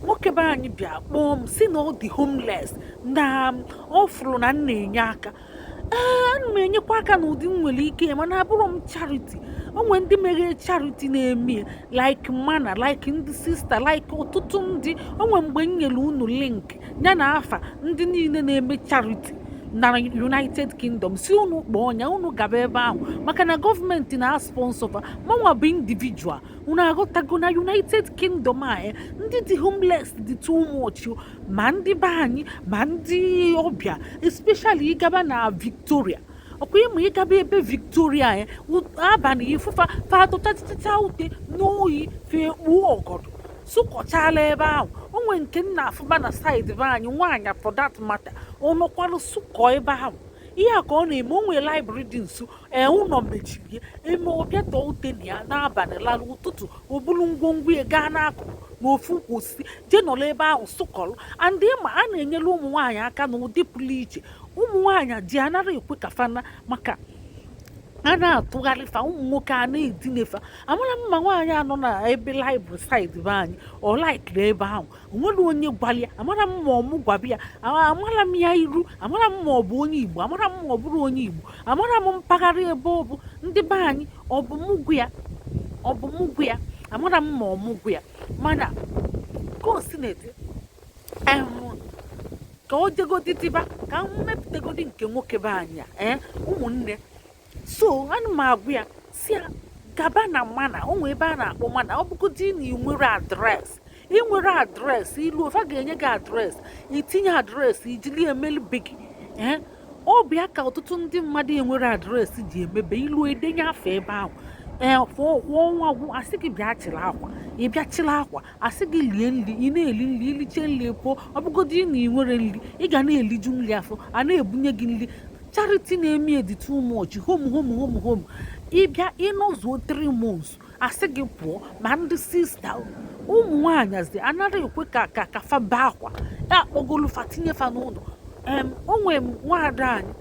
nwoke be anyị bịa kpọọ m si na ọ dị homeless na um, ọ fụrụ na m na-enye aka ee ana m enyekwa aka n'ụdị m nwere ike mana abụrọ m charity onwe ndị meghe charity na-eme like mana like ndị sista like ọtụtụ ndị onwe mgbe m nyere unu link ya na afa ndị niile na-eme charity na united kingdom si unu kpọọ ọnya unu gaba ebe ahụ maka na gọọmenti na-asponsọ fa mụnwa bụ individual unu aghọtago na united kingdom a eh, ndị dị homeless dị too much oh. ma ndị be anyị ma ndị ọbịa especially ịgaba na victoria ọkwa ịma ịgaba ebe victoria eh, abalị ị fụ fa fa tụtachịcha ute n'oyi fa ekpuo ọgọdọ sụkọchala ebe ahụ onwe nke m na-afụba na side be anyị nwaanyị for that matter ọ nọkwalụ sụkọ ebe ahụ ihe a ka ọ na-eme o nwere library dị nso ee ụlọ mechiri eme ọ bịa tọọ ute na ya n'abalị lara ụtụtụ o buru ngwongwo ya gaa n'akụkụ n'ofu ukwu osisi jee nọrọ ebe ahụ sụkọrọ and ịma a na-enyere ụmụ nwaanyị aka n'ụdị pụrụ iche ụmụ nwaanyị ji anarọ ekwe ka fa nọ maka a na-atụgharị fa ụmụ nwoke a na-edinefa amarọ m ma nwaanyị a nọ na ebe library side be anyị ọ laikiri ebe ahụ onwere onye gwara ya amarọ m ma ọ mụ gwaba ya amarọ m ya iru amarọ m ma ọ bụ onye igbo amarọ m ma ọ bụrọ onye igbo amarọ m mpaghara ebe ọ bụ ndị be anyị ọ bụ mụ gwa ya amarọ m ma ọ mụ gwa ya mana ka o si na-ete ka o jegodi diba ka m mepụtagodi nke nwoke be anyị a ee eh, ụmụnne so ana m agwa ya si ya gaba na Manna o nwee ebe a na-akpọ Manna ọ bụgodị na ị nwerọ adreesị ị nwerọ adreesị iluo fa ga-enye gị adreesị itinye adreesị ijili emeli be gị ee ọ bụ ya ka ọtụtụ ndị mmadụ enwerọ adreesị ji emebe iluo edenye afa ebe ahụ ee fụọ ọnwa agwụ asị gị bịa chịla akwa ị bịa chịla akwa asị gị lie nri ị na-eli nri iliche nri pụọ ọ bụgodị na ị nwerọ nri ị ga na-eliju nri afọ a na-ebunye gị nri charity na-eme dị too much home home home home ịbịa ịnọzuo 3 months asị gị pụọ ma ndị sista ụmụ nwaanyị asị anarọ ekwe ka ka ka fa baa akwa a kpọgolu fa tinye fa n'ụlọ onwe nwaada anyị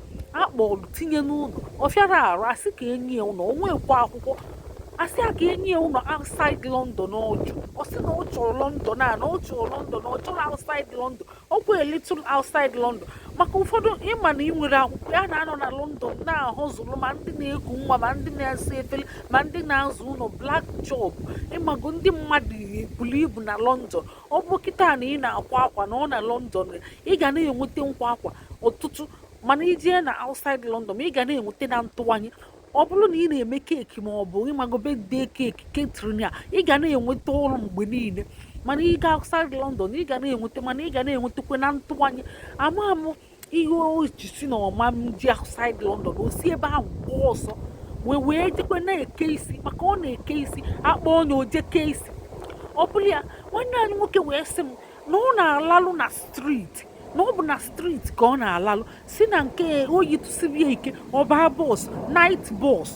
akpọlụ tinye n'ụlọ ọ fịara arụ asị ka enye ya ụlọ onwekwa akwụkwọ asị a ka enye ya ụlọ outside London ọjụ ọ sị na ọ chọrọ London a na ọ chọrọ London ọ chọrọ outside London ọ kwa little outside London maka ụfọdụ ịma na ị nwerọ akwụkwọ ya na-anọ na London na-ahustle ma ndị na-eku nwa ma ndị na-asa efere ma ndị na-aza ụlọ black job ịmago ndị mmadụ buru ibu na London ọ bụrụ kịta na ị na-akwa akwa nọ na london ị ga na-enweta nkwa akwa ọtụtụ mana ị jee na outside london ị ga na-enweta na ntụwanye ọ bụrụ na ị na-eme keeki ma ọ bụ ị mago birthday keeki catering ya ị ga na-enweta ọrụ mgbe niile mana ị ga outside london ị ga na-enweta mana ị ga na-enwetakwa na ntụwanye ama mụ ihe o ji si na ọ ma nje outside London o si ebe ahụ gbaa ọsọ wee wee jekwe na-eke isi maka ọ na-eke isi akpọ onye o je kee isi ọ bụrụ ya nwanne anyị nwoke wee sị m na ọ na-alalụ na street na ọ bụ na street ka ọ na-alalụ si na nke oyi tụsibie ike ọ baa bus night bus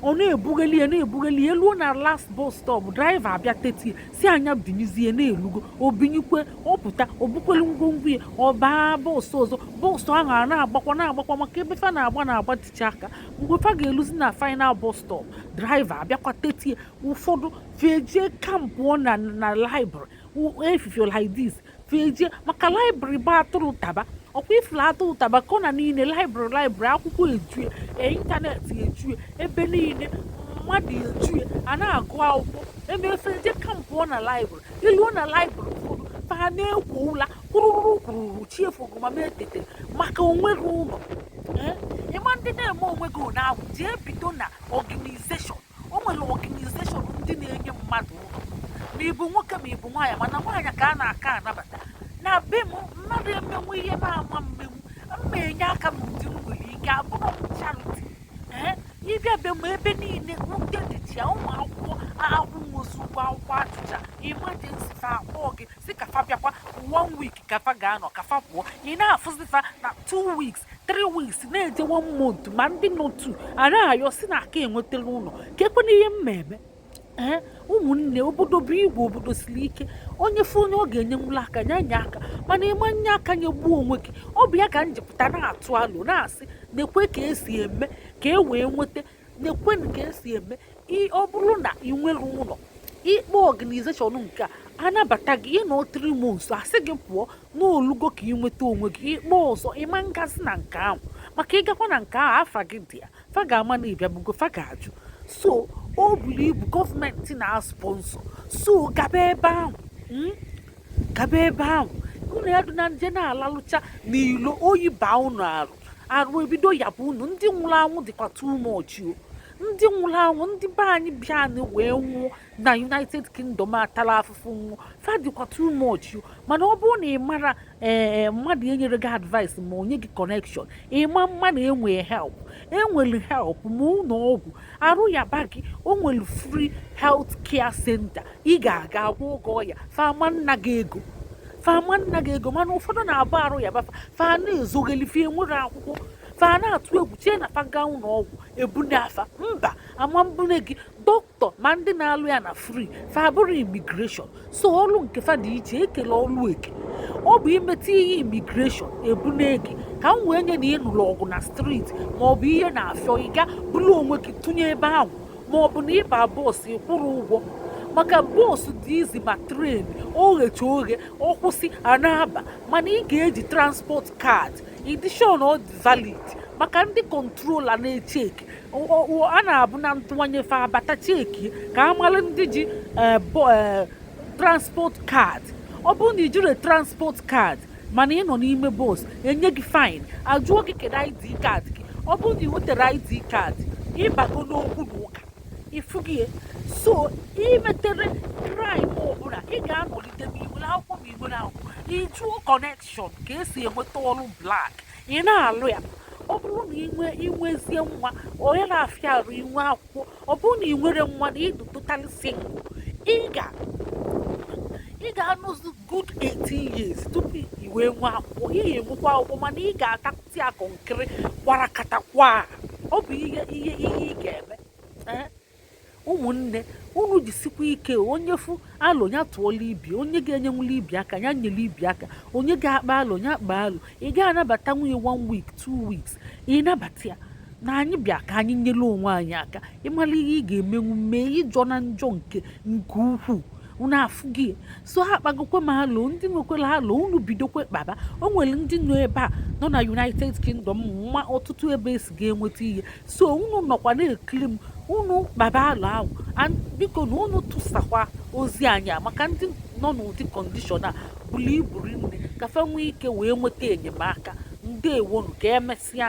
ọ na-ebugheli ya na-ebugheli ya eluo na last bus stop driver abịa tetie sị nya binyezie na elugo o binyekwe ọ pụta o bukwelu ngwongwo ya ọ baa bus ọzọ bus ahụ a na-agbakwa na-agbakwa maka ebe fa na-agba na-agba techa aka mgbe fa ga-eluzi na final bus stop driver abịakwa tetie ụfọdụ fa eje kampụ na na library efifie like this fa eje maka library bụ atụrụ taba ọkwa ifuru atụrụ taba corner niile library library akwụkwọ ejue internet ejue ebe niile mmadụ ejue a na-agụ akwụkwọ eme fa eje kampụ na library i luo na library ụfọdụ fa na-ekwo ụla kwụrụrụ kwụrụrụ chi efogo ma etete maka o nweghị ụlọ eh? ịma ndị na-eme o nweghị ụlọ ahụ jee bido na organization o nwere organization ndị na-enye mmadụ ụlọ ma ị bụ nwoke ma ị bụ nwaanyị mana nwaanyị ka a na-aka anabata na be m mmadụ emenwu ihe na-ama mmenwu mma enye aka n'ụdị m nwere ike abụrọ m charity ee ị bịa be m ebe niile ndị dịcha ya ụmụ akwụkwọ akwụnwọzi ụgwọ akwụkwọ achụcha emergency fa akpọọ gị sị ka fa bịakwa one week ka fa ga-anọ ka fa pụọ ị na-afụzi fa na two weeks three weeks na-eje one month ma ndị nọ etu a na-ayọ si na aka enwetarọ ụlọ ka ekwe n'ihe m na-eme ee ụmụnne obodo bụ igwe obodo siri ike onye fụ onye ọ ga-enyenwula aka nya nye aka mana ị ma nye aka nyegbuo onwe gị ọ bụ ya ka m ji pụta na-atụ alo na-asị nekwe ka esi eme ka e wee nweta nekwe ka esi eme ọ bụrụ na ị nwerọ ụlọ ị kpọọ organization nke a anabata gị ị nọ three months a sị gị pụọ na o lugo ka ị nweta onwe gị ị kpọọ ọzọ ị ma ngazi na nke ahụ maka ị gakwa na nke ahụ afa gị dị ya fa ga-ama na ị bịabugo fa ga-ajụ so o buru ibu government na-asponsor so gaba ebe ahụ hmm? gaba ebe ahụ unu ya dị na nje na-alalụcha n'ilo oyi baa unu arụ arụ ebido yaba unu ndị nwụrụ anwụ dịkwa too much o ndị nwụrụ anwụ ndị be anyị bịa anyị wee nwụọ na united kingdom atala afụfụ nwụ fa dịkwa too much mana ọ bụrụ na ị mara ee eh, mmadụ enyere gị advice ma o nye gị connection ị ma mmadụ enwee help enwere help ma ụlọ ọgwụ arụ yaba gị o nwere free health care center ị ga-aga agwọọ gị ọya fa ama nna gị ego fa ama nna gị ego mana ụfọdụ na-abụ arụ yaba fa fa na-ezogheli fa enwerọ akwụkwọ fa na-atụ egwu chie na fa gaa ụlọ ọgwụ ebunaa fa mba ama mbune gị dọkịta tọ ma ndị na-alụ ya na fri fa abụrọ imigreshọn so ọlụ nke fa dị iche ekele ọlụ eke ọ bụ i meta ihe imigreshọn ebune gị ka m wee nye na ị nụrụ ọgụ na striti ma ọ bụ ihe na-afịọ ị gaa buru onwe gị tụnye ebe ahụ ma ọ bụ na ị baa bọọsụ ị kwụrọ ụgwọ maka bọọsụ dị izi ma tren oghecha oghe ọ kwụsị a na-aba mana ị ga-eji transport kaadị ị dị sure na ọ dị valid maka ndị kọntrola na-echeki a na-abụ na ntụwanye fa abata cheki ka a mara ndị ji eh, eh, transport card ọ bụrụ na i jirọ transport card mana ị nọ n'ime bọs enye gị fain ajụọ gị kedu ID card gị ọ bụrụ na i weterọ ID card ị bago n'okwu na ụka ị fụgo ya so i meterọ kraịm ọbụla ị ga-anọlite ma i nwere akwụkwọ ma i nwerọ akwụkwọ ị jụọ kọnekshọn ka esi enweta ọrụ blak ị na-alụ ya ọ bụrụ na i nwe i nwezie nwa onye na-afịa arụ inwe akwụkwọ ọ bụrụ na i nwerọ nwa na ị dụ totally single ị ga ị ga-anọzi good 18 years tupu i wee nwee akwụkwọ ị ga-enwekwa akwụkwọ mana ị ga-atakụti akụ nkiri gbara katakwa ọ bụ ihe ihe ihe ị ga-eme ụmụnne unu jisikwa ike onye fụ alo ya tụọla ibe onye ga-enyenwula ibe aka ya nyere ibe aka onye ga-akpa alo ya kpaa alo ị ga-anabatanwu onye one week two weeks ị nabata ya na anyị bịa ka anyị nyere onwe anyị aka ị mara ihe ị ga-emenwu mee ị jọna njọ nke nke ukwuu unu afụgo ya so akpagokwe m alo ndị nwekwara alo unu bidokwe kpaba o nwere ndị nọ ebe a nọ na united kingdom ma ọtụtụ ebe esi ga-enweta ihe so unu nọkwa na-ekiri m unu kpaba alo ahụ biko na unu tụsakwa ozi anyị a maka ndị nọ n'ụdị kọndishọn a buru ibu rinne ka fa nwee ike wee nweta enyemaka ndewonu ka emesịa